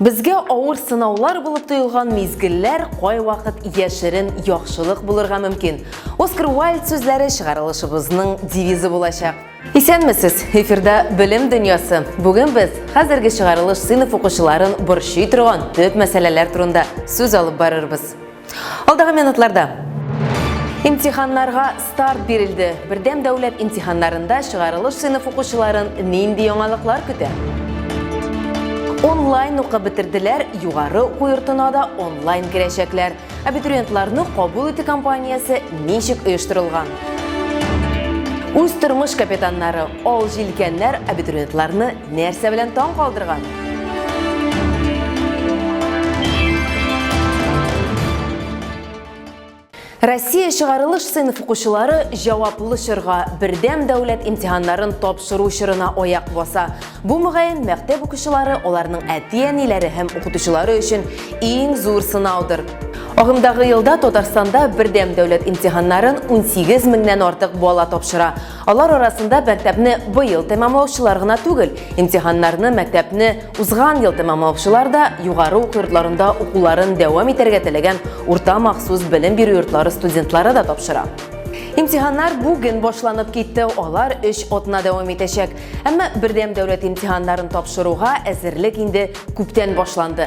Безгә авыр сынаулар булып тоелган мизгелләр кайвакыт яшерен яхшылык булырга мөмкин. Оскар Уайльд сүзләре чыгарылышыбызның девизы булачак. Исәнмесез! Эфирда Белем дөньясы. Бүген без хәзерге чыгарылыш сыйныф укучыларын борчый торган төп мәсьәләләр турында сүз алып барырбыз. Алдагы минутларда Имтиханнарга старт бирелде. Бердәм дәүләт имтиханнарында чыгарылыш сыйныф укучыларын нинди яңалыклар көтә? онлайн укып бетерделәр, югары уку йортына да онлайн керәчәкләр. Абитуриентларны кабул итү компаниясе ничек оештырылган? Үз тормыш капитаннары, ал җилкәннәр абитуриентларны Нәрсә белән таң калдырган? Россия чыгарылыш сыйныф укучылары җаваплы чорга бердәм дәүләт имтиханнарын тапшыру чорына аяк баса. Бу мөгаен мәктәп укучылары, аларның әти-әниләре һәм укытучылары өчен иң зур сынаудыр. Агымдагы елда Татарстанда бердәм дәүләт имтиханнарын 18 меңнән артык бала тапшыра. Алар арасында мәктәпне быел тәмамлаучылар гына түгел, имтиханнарны мәктәпне узган ел тәмамлаучылар да, югары уку йортларында укуларын дәвам итәргә теләгән урта махсус белем бирү йортлары студентлары да тапшыра. Имтиханнар бүген башланып китте, алар өч атна дәвам итәчәк. Әмма бердәм дәүләт имтиханнарын тапшыруга әзерлек инде күптән башланды.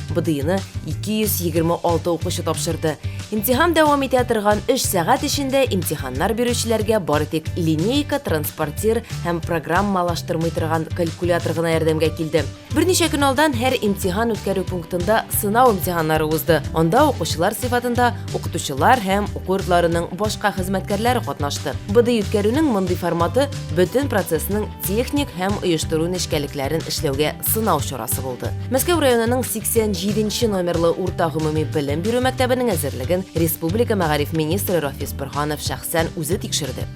БДИны 226 укучы тапшырды. Имтихан дәвам итә торган 3 сәгать эчендә имтиханнар бирүчеләргә бары тик линейка, транспортир һәм программалаштырмый торган калькулятор гына ярдәмгә килде. Берничә көн алдан һәр имтихан үткәрү пунктында сынау имтиханнары узды. Анда укучылар сыйфатында укытучылар һәм уку йортларының башка хезмәткәрләре катнашты. БДИ үткәрүнең мондый форматы бөтен процессның техник һәм оештыру нечкәлекләрен эшләүгә сынау чарасы булды. Мәскәү районының 87 номерлы урта гомуми белем бирү мәктәбенең әзерлеген республика мәгариф министры Рафис Борханов шәхсән үзе тикшерде.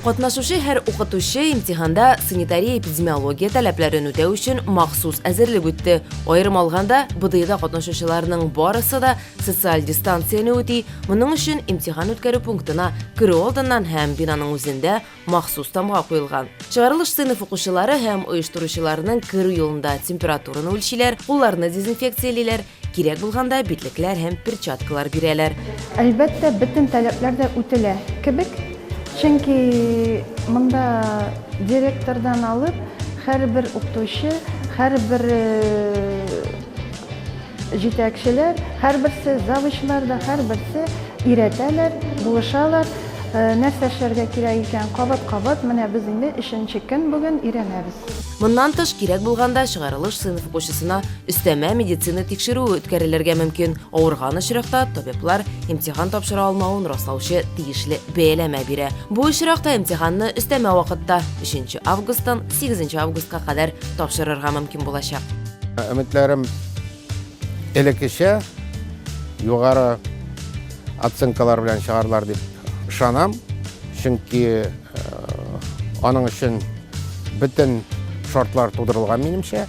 Катнашучы һәр укытучы имтиханда санитария-эпидемиология таләпләрен үтәү өчен махсус әзерлек үтте. Аерым алганда, БДИда катнашучыларның барысы да социаль дистанцияне үти, моның өчен имтихан үткәрү пунктына керү алдыннан һәм бинаның үзендә махсус тамга куелган. Чыгарылыш сыйныф укучылары һәм оештыручыларның керү юлында температураны үлчиләр, кулларны дезинфекциялиләр, кирәк булганда битлекләр һәм перчаткалар бирәләр. Әлбәттә, бөтен таләпләр дә үтелә кебек, чөнки монда директордан алып, һәрбер укытучы, һәрбер э, Җитәкчеләр һәрберсе, завучлар да һәрберсе өйрәтәләр, булышалар, нәрсә эшләргә кирәк икән, кабат-кабат. Менә без инде өченче көн бүген өйрәнәбез. Моннан тыш, кирәк булганда, чыгарылыш сыйныф укучысына өстәмә медицина тикшерүе үткәрелергә мөмкин, авырган очракта табиблар имтихан тапшыра алмавын раслаучы тиешле бәяләмә бирә. Бу очракта имтиханны өстәмә вакытта, өченче августтан сигезенче августка кадәр тапшырырга мөмкин булачак. Өметләрем элеккечә югары оценкалар белән чыгарлар дип ышанам. Чөнки э, аның өчен бөтен шартлар тудырылган минемчә.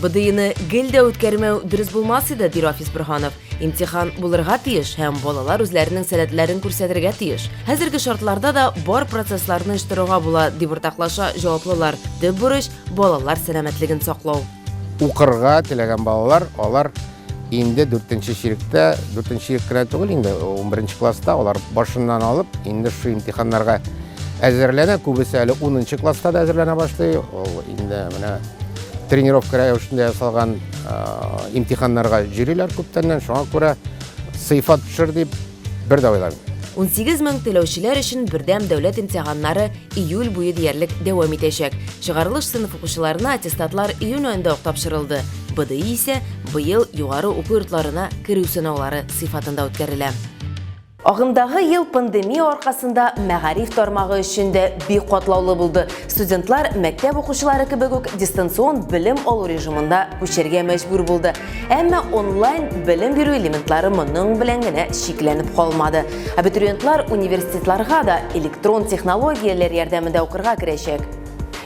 БДИны гел дә үткәрмәү дөрес булмас иде, ди Рафис Бөрһанов. Имтихан булырга тиеш һәм балалар үзләренең сәләтләрен күрсәтергә тиеш. Хәзерге шартларда да бар процессларны оештыруга була, дип уртаклаша җаваплылар. Төп бурыч Балалар сәламәтлеген саклау. Укырга теләгән балалар, алар инде 4-нче чиректә, 4-нче чирек кенә түгел инде, 11-нче класста алар башыннан алып, инде шул имтиханнарга әзерләнә, күбесе әле 10-нчы класста да әзерләнә башлый. Ул инде менә тренировка рәвешендә ясалган имтиханнарга җөриләр күптәннән, шуңа күрә сыйфат төшер дип Бер дә уйланмыйм. Унсигез мең түләүчеләр өчен бердәм дәүләт имтиханнары июль буе диярлек дәвам итәчәк. Чыгарылыш сыйныф укучыларына аттестатлар июнь аенда ук тапшырылды. БДИ исә быел югары уку йортларына керү сынаулары сыйфатында үткәрелә. Агымдагы ел пандемия аркасында мәгариф тармагы өчен дә бик катлаулы булды. Студентлар, мәктәп укучылары кебек үк, дистанцион белем алу режимына күчәргә мәҗбүр булды. Әмма онлайн белем бирү элементлары моның белән генә чикләнеп калмады. Абитуриентлар университетларга да электрон технологияләр ярдәмендә укырга керәчәк.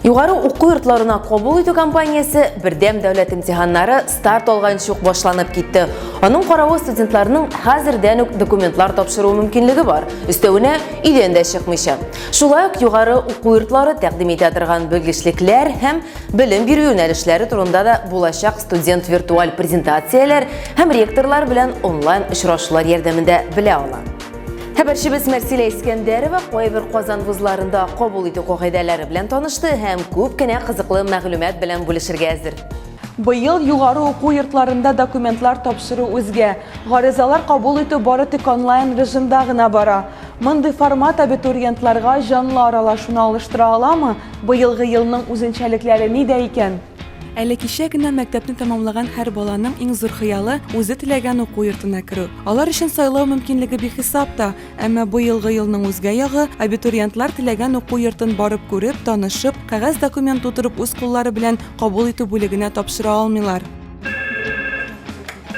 Югары уку йортларына кабул итү кампаниясе бердәм дәүләт имтиханнары старт алган чук башланып китте. Аның каравы студентларның хәзердән үк документлар тапшыру мөмкинлеге бар. Өстәвенә өйдән дә чыкмыйча. Шулай ук югары уку йортлары тәкъдим итә торган белгечлекләр һәм Белем бирү юнәлешләре турында да булачак студент виртуаль презентацияләр һәм ректорлар белән онлайн очрашулар ярдәмендә белә ала. Хәбәрчебез Мәрсилә Искәндәрова кайбер Казан вузларында кабул итү кагыйдәләре белән танышты һәм күп кенә кызыклы мәгълүмат белән бүлешергә әзер. Быел югары уку йортларында документлар тапшыру үзгә. Гаризалар кабул итү бары тик онлайн режимда гына бара. Мондый формат абитуриентларга җанлы аралашуны алыштыра аламы? Быелгы елның үзенчәлекләре нидә икән? Әле кичә генә мәктәпне тәмамлаган һәр баланың иң зур хыялы, үзе теләгән уку йортына керү. Алар өчен сайлау мөмкинлеге бихисап та. Әмма быелгы елның үзгә ягы, абитуриентлар теләгән уку йортын барып күреп, танышып, кәгазь-документ тутырып үз куллары белән кабул итү бүлегенә тапшыра алмыйлар.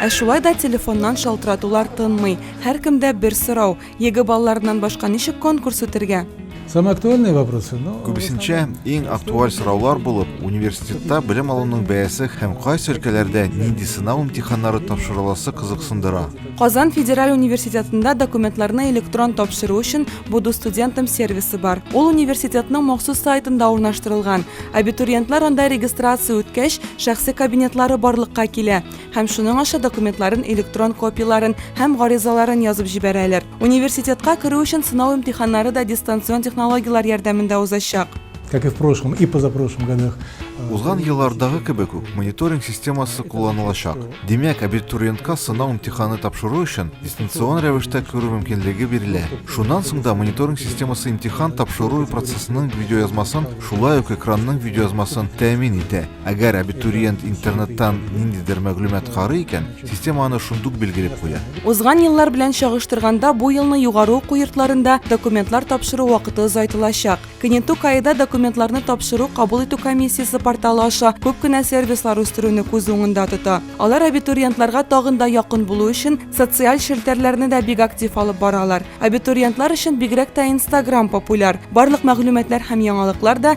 Ә шулай да телефоннан шалтыратулар тынмый. Һәркемдә бер сорау, Егэ балаларыннан башка ничек конкурс үтергә? Самые актуальные вопросы, но... Күбесенчә иң актуаль сораулар булып, университетта белем алуның бәясе һәм кайсы өлкәләрдә нинди сынау имтиханнары тапшырыласы кызыксындыра. Казан федераль университетында документларны электрон тапшыру өчен Буду студентам сервисы бар. Ул университетның махсус сайтында урнаштырылган. Абитуриентлар анда регистрация үткәч, шәхси кабинетлары барлыкка килә. һәм шуның аша документларын, электрон копияләрен һәм гаризаларын язып җибәрәләр. Университетка керү өчен сынау имтиханнары да дистанцион технологияләр ярдәмендә узачак. как и в прошлом, и позапрошлом годах. Э, Узган еллардагы кебек үк мониторинг системасы кулланылачак. Димәк, абитуриентка сынау имтиханы тапшыру өчен дистанцион рәвештә күрү мөмкинлеге бирелә. Шуннан соң да мониторинг системасы имтихан тапшыру процессының видеоязмасын, шулай ук экранның видеоязмасын тәэмин итә. Әгәр абитуриент интернеттан ниндидер мәгълүмат карый икән, система аны шундук билгеләп куя. Узган еллар белән чагыштырганда бу елны югары уку йортларында документлар тапшыру вакыты озайтылачак. Кенету каеда документларны тапшыру кабул итү комиссиясе порталы аша күп кенә сервислар үстерүне күз уңында тота. Алар абитуриентларга тагын да якын булу өчен социаль челтәрләрне дә бик актив алып баралар. Абитуриентлар өчен бигрәк тә Instagram популяр. Барлык мәгълүматлар һәм яңалыклар да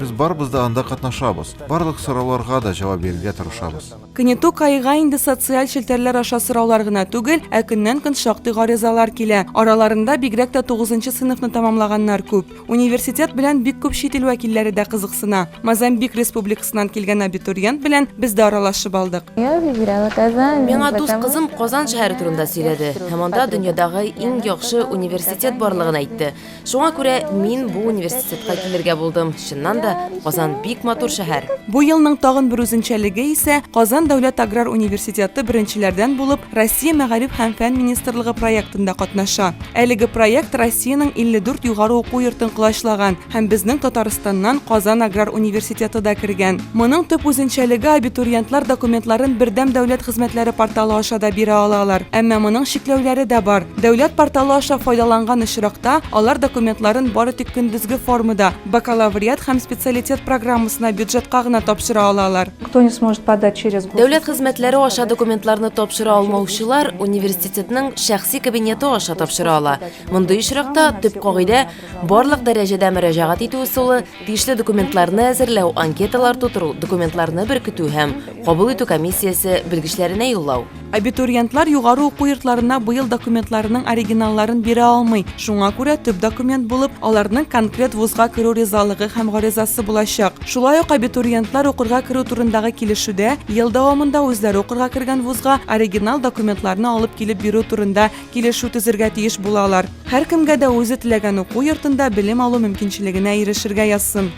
Без барыбыз да анда катнашабыз, барлык сорауларга да җавап бирергә тырышабыз. Кнетук айга инде социаль челтәрләр аша сораулар гына түгел, ә көннән-көн шактый гаризалар килә. Араларында бигрәк тә тугызынчы сыйныфны тәмамлаганнар күп. Университет белән бик күп чит ил вәкилләре дә кызыксына. Мозамбик Республикасыннан килгән абитуриент белән без дә аралашып алдык. Миңа дус кызым Казан шәһәре турында сөйләде һәм анда дөньядагы иң яхшы университет барлыгын әйтте. Шуңа күрә мин бу университетка килергә булдым. Чыннан да, Казан бик матур шәһәр. Бу елның тагын бер үзенчәлеге исә Казан дәүләт аграр университеты беренчеләрдән булып Россия Мәгариф һәм фән министрлыгы проектында катнаша. Әлеге проект Россиянең 54 югары уку йортын колачлаган һәм безнең Татарстаннан Казан аграр университеты да кергән. Моның төп үзенчәлеге абитуриентлар документларын Бердәм дәүләт хезмәтләре порталы аша да бирә алалар. Әмма моның чикләүләре дә бар. Дәүләт порталы аша файдаланган очракта, алар документларын бары тик көндезге формада, бакалавриат һәм специалитет программасына бюджетка гына тапшыра алалар. Дәүләт хезмәтләре аша документларны тапшыра алмаучылар университетның шәхси кабинеты аша тапшыра ала. Мондый очракта төп кагыйдә, Барлык дәрәҗәдә мөрәҗәгать итү ысулы, тиешле документларны әзерләү, анкеталар тутыру, документларны беркетү һәм кабул итү комиссиясе белгечләренә юллау. Абитуриентлар югары уку йортларына быел документларының оригиналларын бирә алмый. Шуңа күрә төп документ булып аларның конкрет вузга керү ризалыгы һәм гаризасы булачак. Шулай ук абитуриентлар укырга керү турындагы килешүдә ел дәвамында үзләре укырга кергән вузга оригинал документларны алып килеп бирү турында Килешү төзергә тиеш булалар. Һәркемгә дә үзе теләгән уку йортында белем алу мөмкинчелегенә ирешергә язсын.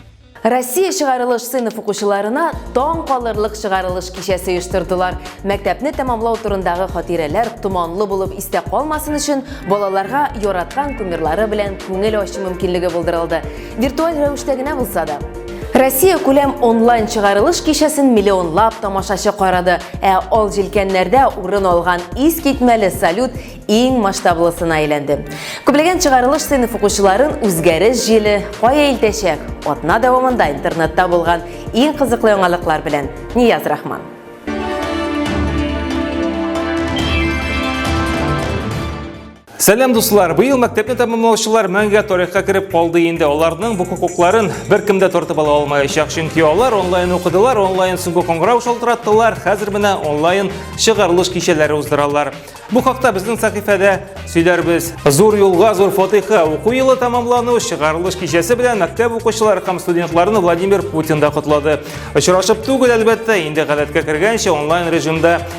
Россия чыгарылыш сыйныф укучыларына таң калырлык чыгарылыш кичәсе оештырдылар. Мәктәпне тәмамлау турындагы хатирәләр томанлы булып истә калмасын өчен, балаларга яраткан кумирлары белән күңел ачу мөмкинлеге булдырылды. Виртуаль рәвештә генә булса да. Россия күләм онлайн чыгарылыш кичәсен миллионлап тамашачы карады, ә ал җилкәннәрдә урын алган ис китмәле салют иң масштаблысына әйләнде. Күплеген чыгарылыш сыйныф укучыларын үзгәреш җиле кая илтәчәк? Атна дәвамында интернетта булган иң кызыклы яңалыклар белән Нияз Рахман. Сәлам дуслар! Быел мәктәпне тәмамлаучылар мәңгә тарихка кереп калды инде. Аларның бу хокукларын беркем дә тартып ала алмаячак, чөнки алар онлайн укыдылар, онлайн сүгү коңгырау шалтыраттылар, хәзер менә онлайн чыгарылыш кичәләре уздыралар. Бу хакта безнең сәхифәдә сөйләрбез. Зур юлга зур фатиха. Уку елы тәмамлану чыгарылыш кичәсе белән мәктәп укучылары һәм студентларны Владимир Путин да котлады. Очрашып түгел, әлбәттә, инде гадәткә кергәнчә онлайн режимда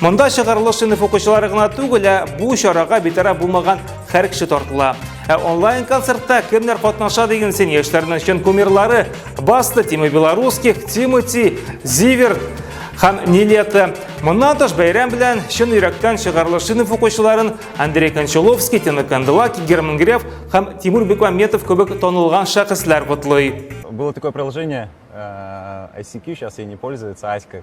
Монда чыгарылыш сыйныф укучылары гына түгел, ә бу чарага битараф булмаган һәр кеше тартыла. Ә онлайн концертта кемнәр катнаша дигән син яшьләрнең чын кумирлары Баста, Тима Белорусских, Тимати, Зивер һәм Нилета. Моннан тыш бәйрәм белән чын йөрәктән чыгарылыш сыйныф укучыларын Андрей Кончаловский, Тина Канделаки, Герман Греф һәм Тимур Бекмаметов кебек танылган шәхесләр котлый. Было такое приложение э, ICQ, сейчас ей не пользуется, Аська.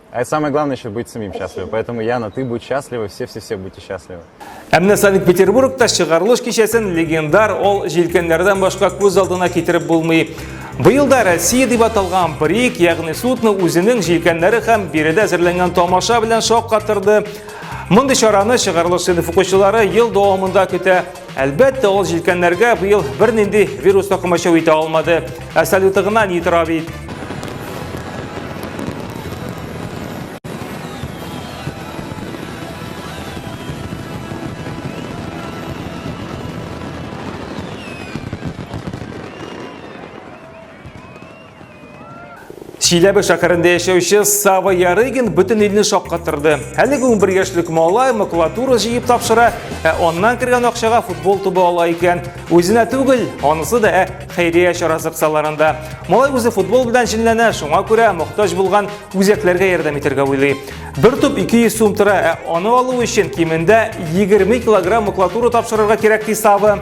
А это самое главное еще быть самим счастливым. Поэтому, Яна, ты будь счастлива, все-все-все будьте счастливы. Әмне Санкт-Петербургта чыгарылыш кичәсен легендар ол җилкәннәрдән башка күз алдына китереп булмый. Быел да Россия дип аталган брик, ягъни судны үзенең җилкәннәре һәм биредә әзерләнгән тамаша белән шаккатырды. Мондый чараны чыгарылыш сыйныф укучылары ел дәвамында көтә. Әлбәттә, ул җилкәннәргә быел бернинди вирус та комачау итә алмады. Ә салюты гына ни тора бит. Чиләбе шәһәрендә яшәүче Сава Ярыгин бөтен илне шаккатырды. Әлеге 11 яшьлек малай макулатура җыеп тапшыра, ә аннан кергән акчага футбол тубы ала икән. Үзенә түгел, анысы да ә хәйрия чарасы кысаларында. Малай үзе футбол белән җенләнә, шуңа күрә мохтаҗ булган үзәкләргә ярдәм итәргә уйлый. Бер туп 200 сум тора, ә аны алу өчен кимендә 20 килограмм макулатура тапшырырга кирәк ди Сава.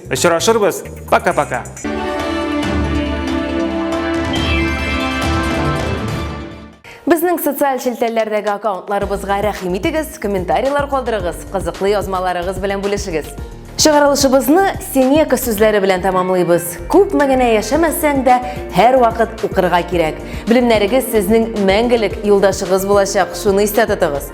Очрашырбыз. Пока-пока. Безнең социаль челтәрләрдәге аккаунтларыбызга рәхим итегез, комментарийлар калдырыгыз, кызыклы язмаларыгыз белән бүлешегез. Чыгарылышыбызны Сенека сүзләре белән тәмамлыйбыз. Күп мәгәнә яшәмәсәң дә, һәр вакыт укырга кирәк. Белемнәрегез сезнең мәңгелек юлдашыгыз булачак, шуны истә тотыгыз.